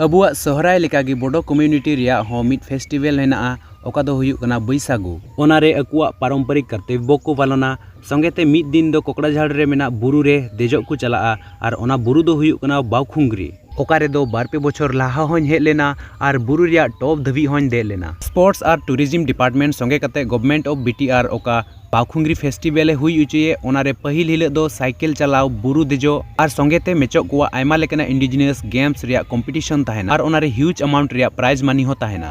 ᱟᱵᱚᱣᱟᱜ ᱥᱚᱦᱨᱟᱭ ᱞᱮᱠᱟ ᱜᱮ ᱵᱳᱰᱳ ᱠᱚᱢᱤᱭᱩᱱᱤᱴᱤ ᱨᱮᱭᱟᱜ ᱦᱚᱸ ᱢᱤᱫ ᱯᱷᱮᱥᱴᱤᱵᱷᱮᱞ ᱦᱮᱱᱟᱜᱼᱟ ᱚᱠᱟ ᱫᱚ ᱦᱩᱭᱩᱜ ᱠᱟᱱᱟ ᱵᱟᱹᱭᱥᱟᱜᱩ᱾ ᱚᱱᱟ ᱨᱮ ᱟᱠᱚᱣᱟᱜ ᱯᱟᱨᱚᱢᱯᱚᱨᱤᱠ ᱠᱟᱨᱛᱚᱵᱽᱵᱚ ᱠᱚ ᱯᱟᱞᱚᱱᱟ᱾ ᱥᱚᱸᱜᱮ ᱛᱮ ᱢᱤᱫ ᱫᱤᱱ ᱫᱚ ᱠᱚᱠᱲᱟᱡᱷᱟᱲ ᱨᱮ ᱢᱮᱱᱟᱜ ᱵᱩᱨᱩ ᱨᱮ ᱫᱮᱡᱚᱜ ᱠᱚ ᱪᱟᱞᱟᱜᱼᱟ ᱟᱨ ᱚᱱᱟ ᱵᱩᱨᱩ ᱫᱚ ᱦᱩᱭᱩᱜ ᱠᱟᱱᱟ ᱵᱟᱣᱠᱷᱩᱝᱜᱽᱨᱤ᱾ ᱚᱠᱟ ᱨᱮ ᱫᱚ ᱵᱟᱨ ᱯᱮ ᱵᱚᱪᱷᱚᱨ ᱞᱟᱦᱟ ᱦᱚᱧ ᱦᱮᱡ ᱞᱮᱱᱟ ᱟᱨ ᱵᱩᱨᱩ ᱨᱮᱭᱟᱜ ᱴᱚᱯ ᱫᱷᱟᱹᱵᱤᱡ ᱦᱚᱧ ᱫᱮᱡ ᱞᱮᱱᱟ᱾ ᱥᱯᱳᱨᱴᱥ ᱟᱨ ᱴᱩᱨᱤᱡᱤᱢ ᱰᱤᱯᱟᱨᱴᱢᱮᱱᱴ ᱥᱚᱸᱜᱮ ᱠᱟᱛᱮ ᱜᱚᱵᱷᱢᱮᱱᱴ ᱚᱯᱷ ᱵᱤᱴᱤᱟᱨ ᱚᱠᱟ᱾ ᱯᱟᱣᱠᱷᱩᱝᱜᱽᱨᱤ ᱯᱷᱮᱥᱴᱤᱵᱷᱮᱞ ᱮ ᱦᱩᱭ ᱚᱪᱚᱭᱮᱫ ᱚᱱᱟ ᱨᱮ ᱯᱟᱹᱦᱤᱞ ᱦᱤᱞᱚᱜ ᱫᱚ ᱥᱟᱭᱠᱮᱞ ᱪᱟᱞᱟᱣ ᱵᱩᱨᱩ ᱫᱮᱡᱚᱜ ᱟᱨ ᱥᱚᱸᱜᱮ ᱛᱮ ᱢᱮᱪᱚᱜ ᱠᱚᱣᱟᱜ ᱟᱭᱢᱟ ᱞᱮᱠᱟᱱᱟᱜ ᱤᱱᱰᱤᱡᱤᱱᱤᱭᱟᱥ ᱜᱮᱢᱥ ᱨᱮᱭᱟᱜ ᱠᱚᱢᱯᱤᱴᱤᱥᱚᱱ ᱛᱟᱦᱮᱱᱟ ᱟᱨ ᱚᱱᱟ ᱨᱮ ᱦᱤᱭᱩᱡᱽ ᱟᱢᱟᱣᱩᱱᱴ ᱨᱮᱭᱟᱜ ᱯᱨᱟᱭᱤᱡᱽ ᱢᱟᱱᱤ ᱦᱚᱸ ᱛᱟᱦᱮᱱᱟ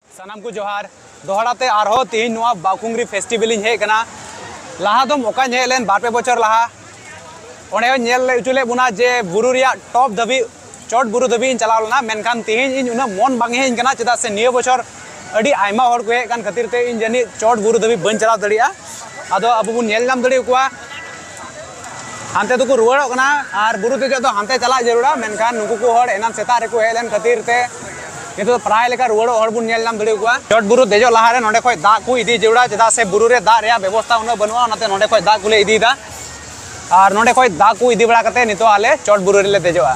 ᱥᱟᱱᱟᱢ ᱠᱚ ᱡᱚᱦᱟᱨ ᱫᱚᱦᱲᱟ ᱛᱮ ᱟᱨᱦᱚᱸ ᱛᱮᱦᱮᱧ ᱱᱚᱣᱟ ᱵᱟᱠᱩᱝᱜᱨᱤ ᱯᱷᱮᱥᱴᱤᱵᱷᱮᱞ ᱤᱧ ᱦᱮᱡ ᱠᱟᱱᱟ ᱞᱟᱦᱟ ᱫᱚ ᱚᱠᱟᱧ ᱦᱮᱡ ᱞᱮᱱ ᱵᱟᱨ ᱯᱮ ᱵᱚᱪᱷᱚᱨ ᱞᱟᱦᱟ ᱚᱸᱰᱮ ᱦᱚᱸ ᱧᱮᱞ ᱦᱚᱪᱚ ᱞᱮᱫ ᱵᱚᱱᱟ ᱡᱮ ᱵᱩᱨᱩ ᱨᱮᱭᱟᱜ ᱴᱚᱯ ᱫᱷᱟᱹᱵᱤᱡ ᱪᱚᱴ ᱵᱩᱨᱩ ᱫᱷᱟᱹᱵᱤᱡ ᱤᱧ ᱪᱟᱞᱟᱣ ᱞᱮᱱᱟ ᱢᱮᱱᱠᱷᱟᱱ ᱛᱮᱦᱮᱧ ᱤᱧ ᱩᱱᱟᱹᱜ ᱢᱚᱱ ᱵᱟᱝ ᱦᱮᱡ ᱠᱟᱱᱟ ᱪᱮᱫᱟᱜ ᱥᱮ ᱱᱤᱭᱟᱹ ᱵᱚᱪᱷᱚᱨ ᱟᱹᱰᱤ ᱟᱭᱢᱟ ᱦᱚᱲ ᱠᱚ ᱦᱮᱡ ᱠᱟᱱ ᱠᱷᱟᱹᱛᱤᱨ ᱛᱮ ᱤᱧ ᱡᱟᱹᱱᱤᱡ ᱪᱚᱴ ᱵᱩᱨᱩ ᱫᱷᱟᱹᱵᱤᱡ ᱵᱟᱹᱧ ᱪᱟᱞᱟᱣ ᱫᱟᱲᱮᱭᱟᱜᱼᱟ ᱟᱫᱚ ᱟᱵᱚ ᱵᱚᱱ ᱧᱮᱞ ᱧᱟᱢ ᱫᱟᱲᱮ ᱟᱠᱚᱣᱟ ᱦᱟᱱᱛᱮ ᱫᱚᱠᱚ ᱨᱩᱣᱟᱹᱲᱚᱜ ᱠᱟᱱᱟ ᱟᱨ ᱵᱩᱨᱩ ᱫᱮᱡᱚᱜ ᱫᱚ ᱦᱟᱱᱛᱮ ᱪᱟᱞᱟᱜ ᱡᱟᱹᱨᱩᱲᱟ ᱢᱮᱱᱠᱷᱟᱱ ᱱᱩᱠᱩ ᱠᱚ ᱦᱚᱲ ᱮᱱᱟᱱ ᱥᱮᱛᱟᱜ ᱨᱮᱠᱚ ᱦᱮᱡ ᱞᱮᱱ ᱠᱷᱟᱹᱛᱤᱨ ᱛᱮ ᱱᱤᱛᱚᱜ ᱫᱚ ᱯᱨᱟᱭ ᱞᱮᱠᱟ ᱨᱩᱣᱟᱹᱲᱚᱜ ᱦᱚᱲ ᱵᱚᱱ ᱧᱮᱞ ᱧᱟᱢ ᱫᱟᱲᱮ ᱠᱚᱣᱟ ᱪᱚᱴ ᱵᱩᱨᱩ ᱫᱮᱡᱚᱜ ᱞᱟᱦᱟᱨᱮ ᱱᱚᱰᱮ ᱠᱷᱚᱱ ᱫᱟᱜ ᱠᱚ ᱤᱫᱤ ᱡᱟᱹᱨᱩᱲᱟ ᱪᱮᱫᱟᱜ ᱥᱮ ᱵᱩᱨᱩ ᱨᱮ ᱫᱟᱜ ᱨᱮᱭᱟᱜ ᱵᱮᱵᱚᱥᱛᱷᱟ ᱩᱱᱟᱹᱜ ᱵᱟᱹᱱᱩᱜᱼᱟ ᱚᱱᱟᱛᱮ ᱱᱚᱰᱮ ᱠᱷᱚᱱ ᱫᱟᱜ ᱠᱚᱞᱮ ᱤᱫᱤᱭᱮᱫᱟ ᱟᱨ ᱱᱚᱰᱮ ᱠᱷᱚᱱ ᱫᱟᱜ ᱠᱚ ᱤᱫᱤ ᱵᱟᱲᱟ ᱠᱟᱛᱮ ᱱᱤᱛᱚᱜ ᱟᱞᱮ ᱪᱚᱴ ᱵᱩᱨᱩ ᱨᱮᱞᱮ ᱫᱮᱡᱚᱜᱼᱟ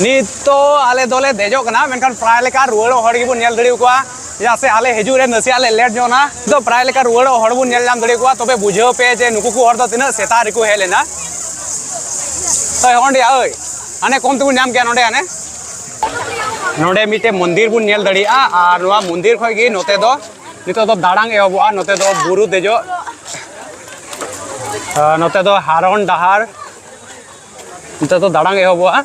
ᱱᱤᱛ ᱫᱚ ᱟᱞᱮ ᱫᱚᱞᱮ ᱫᱮᱡᱚᱜ ᱠᱟᱱᱟ ᱢᱮᱱᱠᱷᱟᱱ ᱯᱨᱟᱭ ᱞᱮᱠᱟ ᱨᱩᱣᱟᱹᱲᱚᱜ ᱦᱚᱲ ᱜᱮᱵᱚᱱ ᱧᱮᱞ ᱫᱟᱲᱮ ᱟᱠᱚᱣᱟ ᱪᱮᱫᱟᱜ ᱥᱮ ᱟᱞᱮ ᱦᱤᱡᱩᱜ ᱨᱮ ᱱᱟᱥᱮᱭᱟᱜ ᱞᱮ ᱞᱮᱴ ᱧᱚᱜ ᱮᱱᱟ ᱛᱚ ᱯᱨᱟᱭ ᱞᱮᱠᱟ ᱨᱩᱣᱟᱹᱲᱚᱜ ᱦᱚᱲ ᱵᱚᱱ ᱧᱮᱞ ᱧᱟᱢ ᱫᱟᱲᱮ ᱠᱚᱣᱟ ᱛᱚᱵᱮ ᱵᱩᱡᱷᱟᱹᱣ ᱯᱮ ᱡᱮ ᱱᱩᱠᱩ ᱠᱚ ᱦᱚᱲ ᱫᱚ ᱛᱤᱱᱟᱹᱜ ᱥᱮᱛᱟᱜ ᱨᱮᱠᱚ ᱦᱮᱡ ᱞᱮᱱᱟ ᱛᱚ ᱚᱸᱰᱮ ᱳᱭ ᱦᱟᱱᱮ ᱠᱚᱢ ᱛᱮᱵᱚᱱ ᱧᱟᱢ ᱠᱮᱭᱟ ᱱᱚᱰᱮ ᱦᱟᱱᱮ ᱱᱚᱰᱮ ᱢᱤᱫᱴᱮᱱ ᱢᱚᱱᱫᱤᱨ ᱵᱚᱱ ᱧᱮᱞ ᱫᱟᱲᱮᱭᱟᱜᱼᱟ ᱟᱨ ᱱᱚᱣᱟ ᱢᱚᱱᱫᱤᱨ ᱠᱷᱚᱱ ᱜᱮ ᱱᱚᱛᱮ ᱫᱚ ᱱᱤᱛᱚᱜ ᱫᱚ ᱫᱟᱲᱟᱝ ᱮᱦᱚᱵᱚᱜᱼᱟ ᱱᱚᱛᱮ ᱫᱚ ᱵᱩᱨᱩ ᱫᱮᱡᱚᱜ ᱱᱚᱛᱮ ᱫᱚ ᱦᱟᱨᱚᱱ ᱰᱟᱦᱟᱨ ᱱᱚᱛᱮ ᱫᱚ ᱫᱟᱲᱟᱝ ᱮᱦᱚᱵᱚᱜᱼᱟ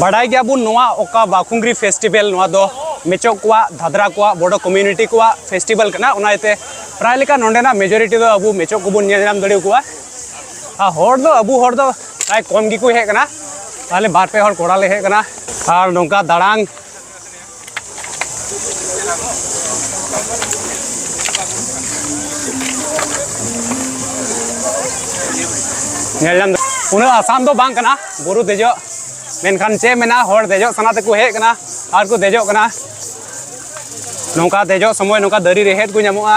ᱵᱟᱰᱟᱭ ᱜᱮᱭᱟᱵᱚᱱ ᱱᱚᱣᱟ ᱚᱠᱟ ᱵᱟᱠᱩᱝᱜᱨᱤ ᱯᱷᱮᱥᱴᱤᱵᱮᱞ ᱱᱚᱣᱟ ᱫᱚ ᱢᱮᱪᱚᱜ ᱠᱚᱣᱟᱜ ᱫᱷᱟᱫᱨᱟ ᱠᱚᱣᱟᱜ ᱵᱚᱰᱚ ᱠᱚᱢᱤᱭᱩᱱᱤᱴᱤ ᱠᱚᱣᱟᱜ ᱯᱷᱮᱥᱴᱤᱵᱮᱞ ᱠᱟᱱᱟ ᱚᱱᱟ ᱤᱭᱟᱹᱛᱮ ᱯᱨᱟᱭ ᱞᱮᱠᱟ ᱱᱚᱰᱮᱱᱟᱜ ᱢᱮᱡᱚᱨᱤᱴᱤ ᱫᱚ ᱟᱵᱚ ᱢᱮᱪᱚᱜ ᱠᱚᱵᱚᱱ ᱧᱮᱞ ᱧᱟᱢ ᱫᱟᱲᱮ ᱟᱠᱚᱣᱟ ᱟᱨ ᱦᱚᱲ ᱫᱚ ᱟᱵᱚ ᱦᱚᱲ ᱫᱚ ᱯᱨᱟᱭ ᱠᱚᱢ ᱜᱮᱠᱚ ᱦᱮᱡ ᱠᱟᱱᱟ ᱛᱟᱦᱞᱮ ᱵᱟᱨ ᱯᱮ ᱦᱚᱲ ᱠᱚᱲᱟ ᱞᱮ ᱦᱮᱡ ᱠᱟᱱᱟ ᱟᱨ ᱱᱚᱝᱠᱟ ᱫᱟᱬᱟᱱ ᱧᱮᱞ ᱧᱟᱢ ᱩᱱᱟᱹᱜ ᱟᱥᱟᱱ ᱫᱚ ᱵᱟᱝ ᱠᱟᱱᱟ ᱵᱩᱨᱩ ᱫᱮᱡᱚᱜ ᱢᱮᱱᱠᱷᱟᱱ ᱪᱮᱫ ᱢᱮᱱᱟ ᱦᱚᱲ ᱫᱮᱡᱚᱜ ᱥᱟᱱᱟ ᱛᱮᱠᱚ ᱦᱮᱡ ᱠᱟᱱᱟ ᱟᱨ ᱠᱚ ᱫᱮᱡᱚᱜ ᱠᱟᱱᱟ ᱱᱚᱝᱠᱟ ᱫᱮᱡᱚᱜ ᱥᱚᱢᱚᱭ ᱱᱚᱝᱠᱟ ᱫᱟᱨᱮ ᱨᱮᱦᱮᱫ ᱠᱚ ᱧᱟᱢᱚᱜᱼᱟ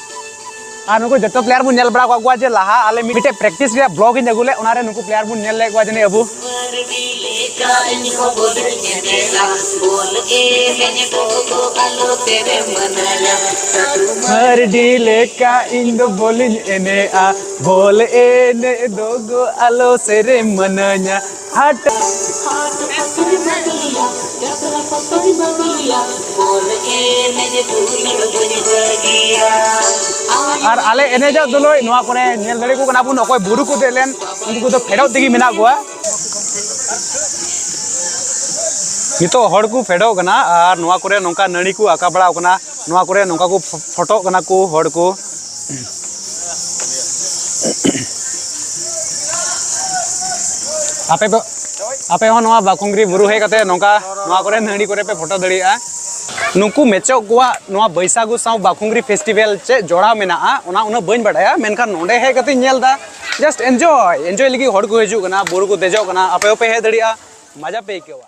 ᱟᱨ ᱱᱩᱠᱩ ᱡᱚᱛᱚ ᱯᱞᱮᱭᱟᱨ ᱵᱚᱱ ᱧᱮᱞ ᱵᱟᱲᱟ ᱠᱟᱜ ᱠᱚᱣᱟ ᱡᱮ ᱞᱟᱦᱟ ᱟᱞᱮ ᱢᱤᱫᱴᱮᱡ ᱯᱨᱮᱠᱴᱤᱥ ᱨᱮᱭᱟᱜ ᱵᱞᱚᱜ ᱤᱧ ᱟᱹᱜᱩ ᱞᱮᱫ ᱚᱱᱟ ᱨᱮ ᱱᱩᱠᱩ ᱯᱞᱮᱭᱟᱨ ᱵᱚᱱ ᱧᱮᱞ ᱞᱮᱫ ᱠᱚᱣᱟ ᱡᱟᱹᱱᱤᱡ ᱟᱵᱚ ᱢᱟᱨᱰᱤ ᱞᱮᱠᱟ ᱤᱧ ᱫᱚ ᱵᱚᱞᱤᱧ ᱮᱱᱮᱡᱼᱟ ᱵᱚᱞ ᱮᱱᱮᱡ ᱫᱚ ᱜᱚ ᱟᱞᱚ ᱥᱮᱨᱮᱧ ᱢᱟᱱᱟᱧᱟ हट ᱟᱨ ᱟᱞᱮ ᱮᱱᱮᱡᱚᱜ ᱫᱩᱞᱳᱭ ᱱᱚᱣᱟ ᱠᱚᱨᱮ ᱧᱮᱞ ᱫᱟᱲᱮ ᱠᱚ ᱠᱟᱱᱟ ᱵᱚᱱ ᱚᱠᱚᱭ ᱵᱩᱨᱩ ᱠᱚ ᱫᱮᱡ ᱞᱮᱱ ᱩᱱᱠᱩ ᱠᱚᱫᱚ ᱯᱷᱮᱰᱚᱜ ᱛᱮᱜᱮ ᱢᱮᱱᱟᱜ ᱠᱚᱣᱟ ᱱᱤᱛᱚᱜ ᱦᱚᱲ ᱠᱚ ᱯᱷᱮᱰᱚᱜ ᱠᱟᱱᱟ ᱟᱨ ᱱᱚᱣᱟ ᱠᱚᱨᱮ ᱱᱚᱝᱠᱟ ᱱᱟᱹᱲᱤ ᱠᱚ ᱟᱠᱟ ᱵᱟᱲᱟᱣ ᱠᱟᱱᱟ ᱱᱚᱣᱟ ᱠᱚᱨᱮ ᱱᱚᱝᱠᱟ ᱠᱚ ᱯᱷᱳᱴᱳᱜ ᱠᱟᱱᱟ ᱠᱚ ᱦᱚᱲ ᱠᱚ ᱟᱯᱮ ᱫᱚ ᱟᱯᱮ ᱦᱚᱸ ᱱᱚᱣᱟ ᱵᱟᱠᱩᱝᱜᱨᱤ ᱵᱩᱨᱩ ᱦᱮᱡ ᱠᱟᱛᱮ ᱱᱚᱝᱠᱟ ᱱᱚᱣᱟ ᱠᱚᱨᱮ ᱱᱟᱹᱲᱤ ᱠᱚᱨᱮ ᱯᱮ ᱯᱷᱳᱴᱳ ᱫᱟᱲᱮᱭᱟᱜᱼᱟ ᱱᱩᱠᱩ ᱢᱮᱪᱚᱜ ᱠᱚᱣᱟᱜ ᱱᱚᱣᱟ ᱵᱟᱹᱭᱥᱟᱜᱩ ᱥᱟᱶ ᱵᱟᱠᱩᱝᱜᱨᱤ ᱯᱷᱮᱥᱴᱤᱵᱷᱮᱞ ᱪᱮᱫ ᱡᱚᱲᱟᱣ ᱢᱮᱱᱟᱜᱼᱟ ᱚᱱᱟ ᱩᱱᱟᱹᱜ ᱵᱟᱹᱧ ᱵᱟᱰᱟᱭᱟ ᱢᱮᱱᱠᱷᱟᱱ ᱱᱚᱰᱮ ᱦᱮᱡ ᱠᱟᱛᱮ ᱧᱮᱞ ᱮᱫᱟ ᱡᱟᱥᱴ ᱮᱱᱡᱚᱭ ᱮᱱᱡᱚᱭ ᱞᱟᱹᱜᱤᱫ ᱦᱚᱲ ᱠᱚ ᱦᱤᱡᱩᱜ ᱠᱟᱱᱟ ᱵᱩᱨᱩ ᱠᱚ ᱫᱮᱡᱚᱜ ᱠᱟᱱᱟ ᱟᱯᱮ ᱦᱚᱸᱯᱮ ᱦᱮᱡ ᱫᱟᱲᱮᱭᱟᱜᱼᱟ ᱢᱟᱡᱟ ᱯᱮ ᱟᱹᱭᱠᱟᱹᱣᱟ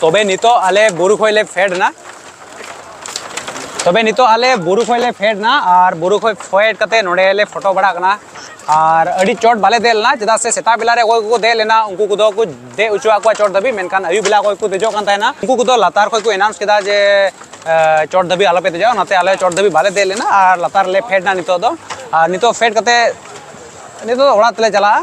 ᱛᱚᱵᱮ ᱱᱤᱛᱚᱜ ᱟᱞᱮ ᱵᱩᱨᱩ ᱠᱷᱚᱡ ᱞᱮ ᱯᱷᱮᱰ ᱮᱱᱟ ᱛᱚᱵᱮ ᱱᱤᱛᱚᱜ ᱟᱞᱮ ᱵᱩᱨᱩ ᱠᱷᱚᱡ ᱞᱮ ᱯᱷᱮᱰ ᱮᱱᱟ ᱟᱨ ᱵᱩᱨᱩ ᱠᱷᱚᱡ ᱯᱷᱮᱰ ᱠᱟᱛᱮ ᱱᱚᱰᱮ ᱞᱮ ᱯᱷᱳᱴᱳ ᱵᱟᱲᱟᱜ ᱠᱟᱱᱟ ᱟᱨ ᱟᱹᱰᱤ ᱪᱚᱴ ᱵᱟᱞᱮ ᱫᱮᱡ ᱞᱮᱱᱟ ᱪᱮᱫᱟᱜ ᱥᱮ ᱥᱮᱛᱟᱜ ᱵᱮᱞᱟ ᱨᱮ ᱚᱠᱚᱭ ᱠᱚᱠᱚ ᱫᱮᱡ ᱞᱮᱱᱟ ᱩᱱᱠᱩ ᱠᱚᱫᱚ ᱠᱚ ᱫᱮᱡ ᱦᱚᱪᱚᱣᱟᱜ ᱠᱚᱣᱟ ᱪᱚᱴ ᱫᱷᱟᱹᱵᱤᱡ ᱢᱮᱱᱠᱷᱟᱱ ᱟᱹᱭᱩᱵ ᱵᱮᱞᱟ ᱚᱠᱚᱭ ᱠᱚ ᱫᱮᱡᱚᱜ ᱠᱟᱱ ᱛᱟᱦᱮᱱᱟ ᱩᱱᱠᱩ ᱠᱚᱫᱚ ᱞᱟᱛᱟᱨ ᱠᱷᱚᱡ ᱠᱚ ᱮᱱᱟᱣᱩᱱᱥ ᱠᱮᱫᱟ ᱡᱮ ᱪᱚᱴ ᱫᱷᱟᱹᱵᱤᱡ ᱟᱞᱚᱯᱮ ᱫᱮᱡᱚᱜᱼᱟ ᱚᱱᱟᱛᱮ ᱟᱞᱮ ᱪᱚᱴ ᱫᱷᱟᱹᱵᱤᱡ ᱵᱟᱞᱮ ᱫᱮᱡ ᱞᱮᱱᱟ ᱟᱨ ᱞᱟᱛᱟᱨ ᱨᱮᱞᱮ ᱯᱷᱮᱰ ᱮᱱᱟ ᱱᱤᱛᱚᱜ ᱫᱚ ᱟᱨ ᱱᱤᱛᱚᱜ ᱯᱷᱮᱰ ᱠᱟᱛᱮ ᱱᱤᱛᱚᱜ ᱫᱚ ᱚᱲᱟᱜ ᱛᱮᱞᱮ ᱪᱟᱞᱟᱜᱼᱟ